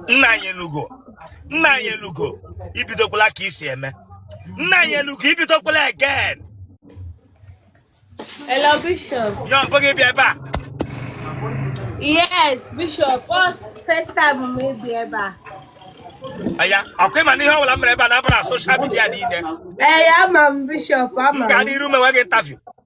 Nnanyelugo Nnanyelugo ibidokwala ka isi eme Nnanyelugo ibidokwala again Hello, Bishop. ya ọ mbụ gị ịbịa ebe a Yes, Bishop. First, first time m ịbịa ebe a. aya ọkwa ịma na ihe ọbụla m mere ebe a na-abara soshal midia niile Ee, ama m Bishop, m ama. M gaa n'iru mewe gị interview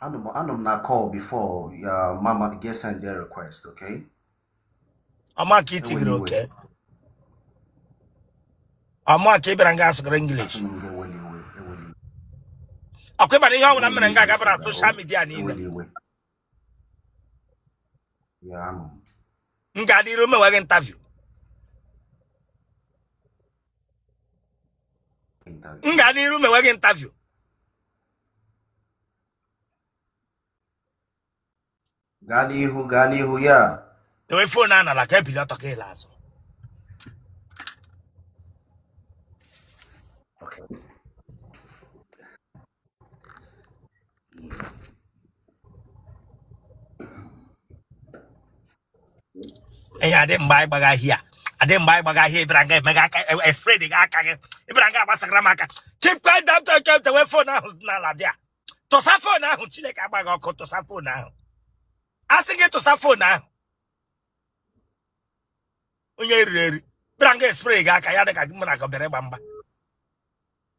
anọ m na call before your mama get send their request okay ọ mụa ka itigere okay ọ mụa ka ị bịara nga asụgara english ọkwa ịma na ihe ọbụla m mere nga ga-abara soshal midia niile m gaa n'iru mewe gị interview m gaa n'iru mewe gị interview gaa n'ihu gaa n'ihu aya dewe fon a n'ala ka ibili ọtọ ka ịla azụ aya adị mgba anyị gbaga here adị mgba anyị gbaga here ịbịara nga emega aka espredga aka gị ịbịara nga agbasara m aka keep quiet down to keep dewe fon ahụ n'ala there tụsa fon ahụ chineke agba gị ọkụ tụsa fon ahụ a sị gị tụsa fon ahụ onye riri eri bịara nga espredga aka ya dị ka mụ na gị bịara ịgba mgba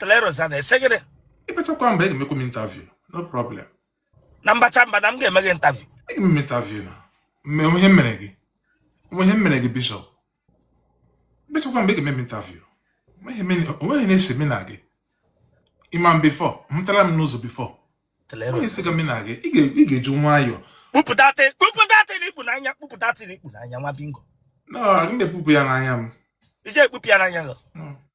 tleroza na-asị gịnị ịbachakwa mba ị ga-emekwa m interview no problem na m bachaa mba na m ga-eme gị interview ị ga-eme m interview now onwe ihe m mere gị onwe ihe m mere gị bishọp ịbachakwa mba ị ga-eme m interview onwe ihe na-ese mụ na gị ịma m bifọ ị meetịla m n'ụzọ bifọ onwe ihe na-ese mụ na gị ị ga-eji nwayọọ kpupụ that thing ikpu n'anya kpupụ that thing ikpu n'anya nwa bingo na-ekpupụ ya n'anya m ị ga-ekpupụ ya n'anya gị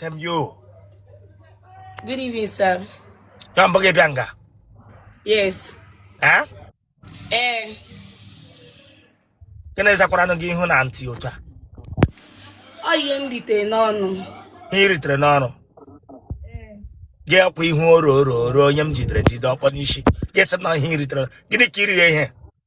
Thank you. Good evening, sir. Ya ọ mbụ gị ịbịa nga. Yes. Eh? Eh. Gịnị zakwaranụ gị ihu na ntị otu a. Ọ ihe m ritere n'ọnụ. Ihe iritere n'ọnụ. Eh. Gị akwa ihu oro oro oro onye m jidere jide ọkpọ n'isi. Gị sị na ihe ritere. Gịnị ka iri ihe?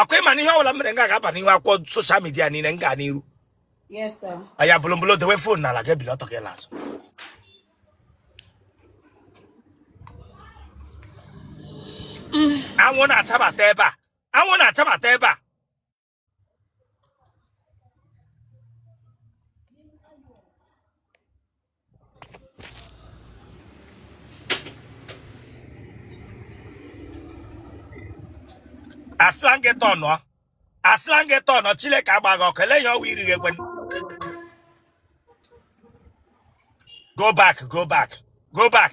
ọkwa ịma na ihe ọbụla m mere nga ga-aba n'ihu akwụkwọ soshal midia niile m gaa n'iru Yes, sir. aya bụlụmbụlụ dewe fon n'ala gị ebili ọtọ gị ala azụ anwụ na-achabata ebe a anwụ na-achabata ebe a asịla gị tọnụọ asịla gị tọnụọ Chineke agba gị ọkụ ele ya ọwa iri gị ekwe go back go back go back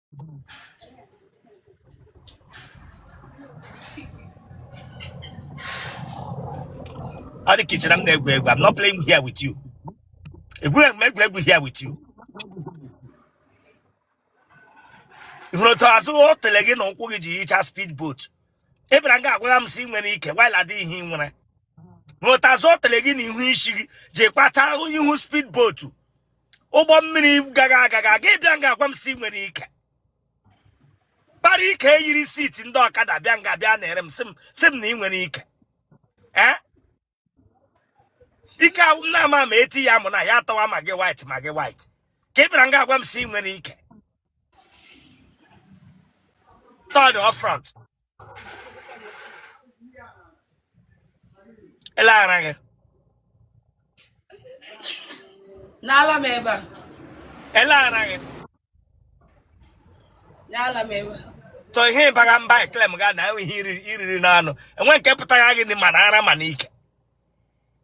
ọ dị ka i chere m na-egwu egwu I'm not playing here with you egwughị m egwu egwu here with you ị hụrụ otu azụ otele gị na ukwu gị ji yicha speed boat ị bịara nga agwagha m sị i nwere ike while ọ dịghị ihe ị nwere hụrụ otu azụ otele gị na ihu isi gị ji kpata ihu speed boat ụgbọ mmiri gaga aga gị abịa nga agwa m sị i nwere ike para ike yiri seat ndị ọkada bịa nga bịa na-ere m sị m na ị nwere ike ee ike ahụ m na-ama ma e tiye amụ na ya atọwa Maggi white Maggi white ka ị bịara nga agwa m sị i nwere ike turn front ele ara gị n'ala m ebe a ele ara gị n'ala m ebe a so ihe ị baga mba e-claim ga na enwe ihe i riri n'ọnụ enwe nke pụtara gị ma n'ara ma n'ike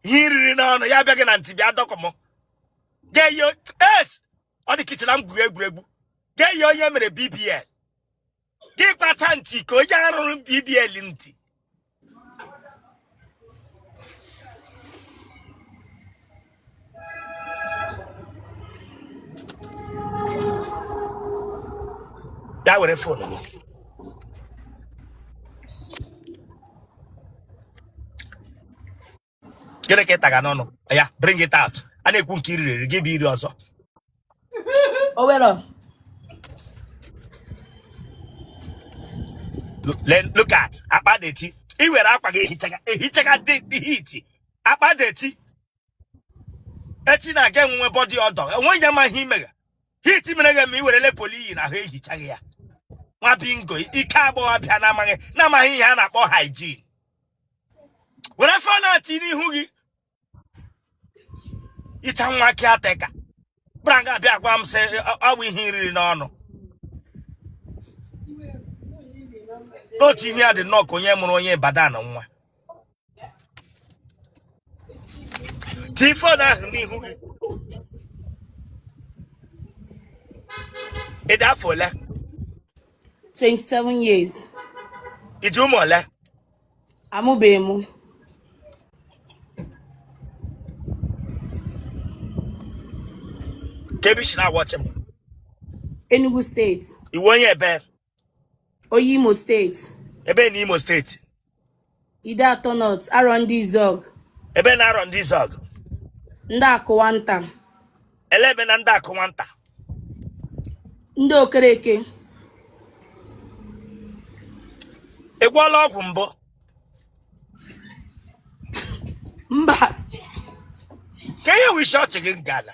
ihe i riri n'ọnụ ya baa gị na ntị bịa dọkụ m get your ass ọ dị ka i che na m gwuru egwuregwu gị eyie onye mere bbl gị kpacha ntị ka onye a rụrụ BBL ntị ya were fon gị gịnị ka ị taga n'ọnụ ya bring it out a na-ekwu nke iri rere gị bụ iri ọzọ Owelo. Look- le- look at akpa dirty i were akwa gị ehichaga ehichaga the the heat akpa dirty echi na-aga enwe body odor enweghị onye ma ihe i mega heat mere gị ma i werele polo i yi n'ahụ ehichaga ya nwa bingo ike agbọghọbịa na-amaghị na-amaghị ihe a na-akpọ hygiene were fon ahụ tii n'ihu gị i yicha nwa caretaker bịara nga abịa gwa m sị ọ bụ ihe i riri n'ọnụ n'otu ihe a dị nnọọ ka onye mụrụ onye Ibadan nwa tii fon ahụ n'ihu gị ị dị afọ ole 27 years. I ji ụmụ ole? Amụbeghị m. Kee ebe i si na-awọchị m. Enugu steeti. Ị wụ onye ebe? Onye Imo steeti. Ebe na Imo steeti. Ideato North Arondizuogu ebe na Arondizuogu Ndiakunwanta ele ebe na Ndiakunwanta Ndiokereke ị gwọọla ọgwụ mbụ mba kee ihe wụ isi ọchị gị ngala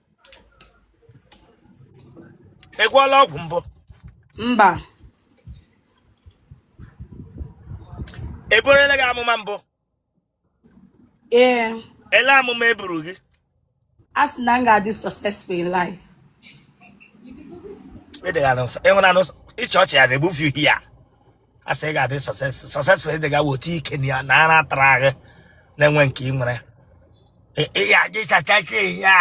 ị gwọọla ọgwụ mbụ mba e burela gị amụma mbụ ee ele amụma e buru gị a sị na m ga-adị successful in life ịdịghara nsọ ịhụna n'ụsọ ịchị ọchị ya na-ebufu ihe ya a sị ị ga-adị successful ị dịga weta ike na ya na ara tara gị na-enwe nke ị nwere ị ga-adị successful ya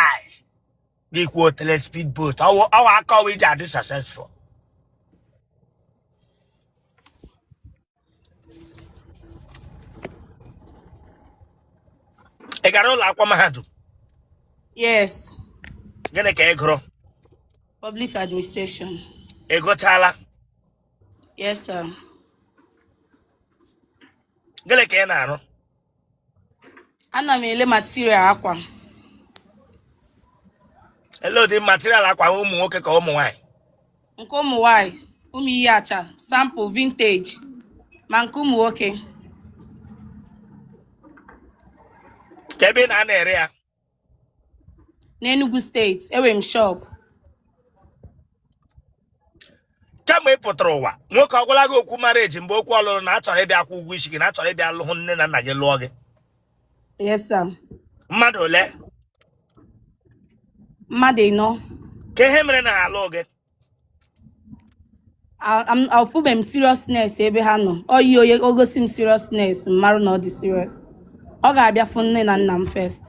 gị kwuo tele speed boat ọwa akọwa iji adị successful ị gara ụlọ akwụkwọ mahadum yes gịnị ka ị gụrụ public administration ị gụchaala Yes, sir. Gịnị ka ị na-arụ? Ana m ele material akwa. Ele ụdị material akwa ụmụ nwoke ka ụmụ nwanyị? Nke ụmụ nwanyị, ụmụ ihe acha, sample vintage, ma nke ụmụ nwoke. Kee ebe ị na-anọ ere ya? n'Enugu steeti enwere m shop kama ị pụtara ụwa nwoke ọ gwala gị okwu marriage mgbe okwu ọlụlụ na a chọrọ ịbịa akwụ ụgwọ isi gị na a chọrọ ịbịa lụ hụ nne na nna gị lụọ gị yes sir mmadụ ole mmadụ ịnọ kee ihe mere na ha alụ gị afụbe m seriousness ebe ha nọ onye o gosi m seriousness m mara na ọ dị serious ọ ga-abịa fụ nne na nna m first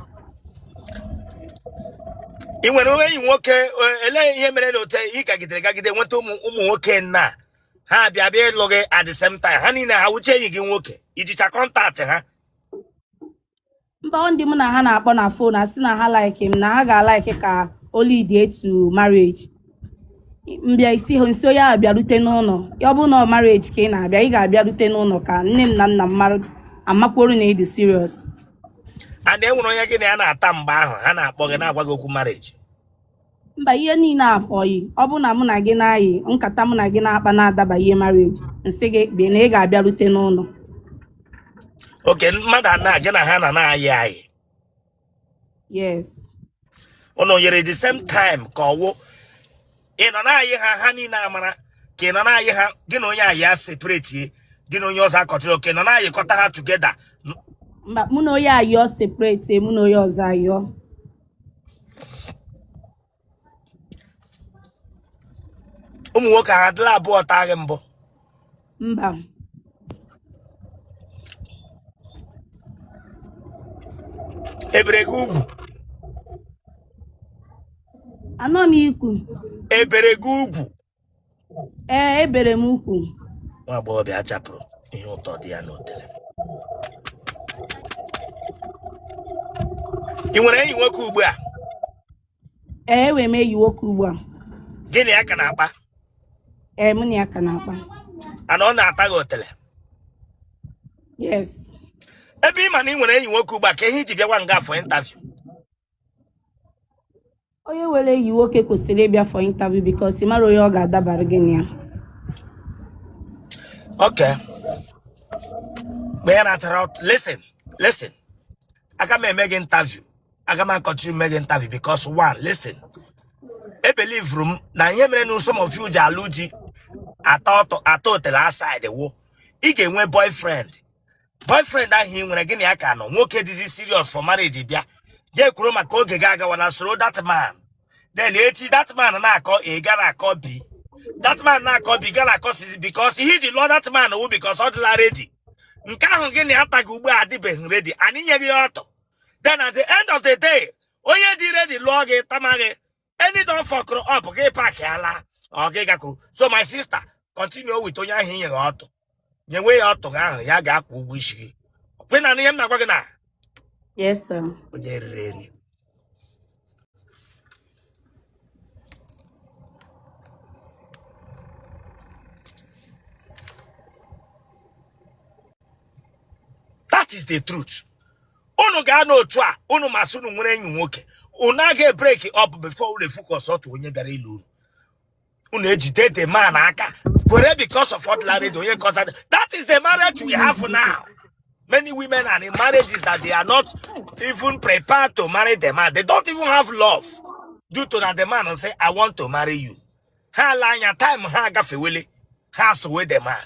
ị nwere onwe enyi nwoke e- elee ihe mere na otu ị gagidere gagide nweta ụmụ ụmụ nwoke ịnọ ha bịa bịa ịlụ gị at the same time ha niile ha wụcha enyi gị nwoke i jicha contact ha mba o ndị mụ na ha na-akpọ na phone asị na ha like m na ha ga-alike ka o lead to marriage m bịa sị ha m sị ya bịarute n'ụnọ ya ọ bụrụ na ọ marriage ka ị na-abịa ị ga-abịarute n'ụnọ ka nne m na nna m mara a makwuru na ị dị serious and e nwere onye gị na ya na-ata mgbe ahụ ha na-akpọ gị na-agwa gị okwu marriage mba ihe niile a oyi ọ bụrụ na mụ na gị na-ayị nkata mụ na gị na-akpa na-adaba ihe marriage m sị gị bịa na ị ga-abịarute n'ụlọ okay mmadụ anọ gị na ha nọ na-ayị ayị yes ụnụ yịrị the same time ka ọ wụ ị nọ na-ayị ha ha niile amara ka ị nọ na-ayị ha gị na onye ayịa separate gị na onye ọzọ akọntinuo ọ ka ị nọ na-ayịkọta ha together mba mụ na onye ayọ separate mụ na onye ọzọ ayọ ụmụ nwoke ha adịla abụọ taa gị mbụ mba e bere gị ugwu anọ m ikwu e bere gị ugwu ee e bere m ugwu nwa agbọghọbịa a chapụrụ ihe ụtọ dị ya n'otele ị nwere enyi nwoke ugbu a ee enwere m enyi nwoke ugbu a gị na ya ka na-akpa ee mụ na ya ka na-akpa ana ọ na-ata gị otele yes ebe ị ma na ị nwere enyi nwoke ugbu a ka ihe i ji bịawa nga a for interview onye nwere enyi nwoke kwesịrị ịbịa for interview because ị mara onye ọ ga-adabara gị na ya Okay. Mgbe ya natara ọk- listen, listen. Aga m eme gị interview. Aga m akọntinuo eme gị interview because one, listen. Ebelivuru m na ihe mere na some of you ji alụ di ata ọtụ- ata otele outside wụ. Ị ga-enwe boyfriend. boyfriend ahụ ị nwere gị na ya ka nọ nwoke dịzi serious for marriage bịa ga-ekwuru maka oge gị agawala soro that man then echi that man na-akọ A gara akọ B that man na-akọ B gara akọ C because ihe i ji lụọ that man wụ because ọ dịla ready nke ahụ gị na ya tagha ugbu a adịbeghị ready and i nyegha ya ọtụ then at the end of the day onye dị ready lụọ gị tama gị any day ọ fọkụrụ up gị apaakịa laa ọ gị gakwuru so my sister continue with onye ahụ i nyegha ọtụ nyewe ya ọtụ gị ahụ ya ga-akwụ ụgwọ isi gị kwe na ihe m na-agwa gị na Yes, sir. onye riri eri that is the truth unu ga-anọ otu a unu ma sị unu nwere enyi nwoke unu aga ebreak up before unu efocus otu onye bịara ịlụ unu unu ejide the man aka kwere because of what Larry onye kọsa that is the marriage we have now many women are in marriages that they are not even prepared to marry the man they don't even have love due to that the man say i want to marry you ha ala anya time ha agafewele ha sowe the man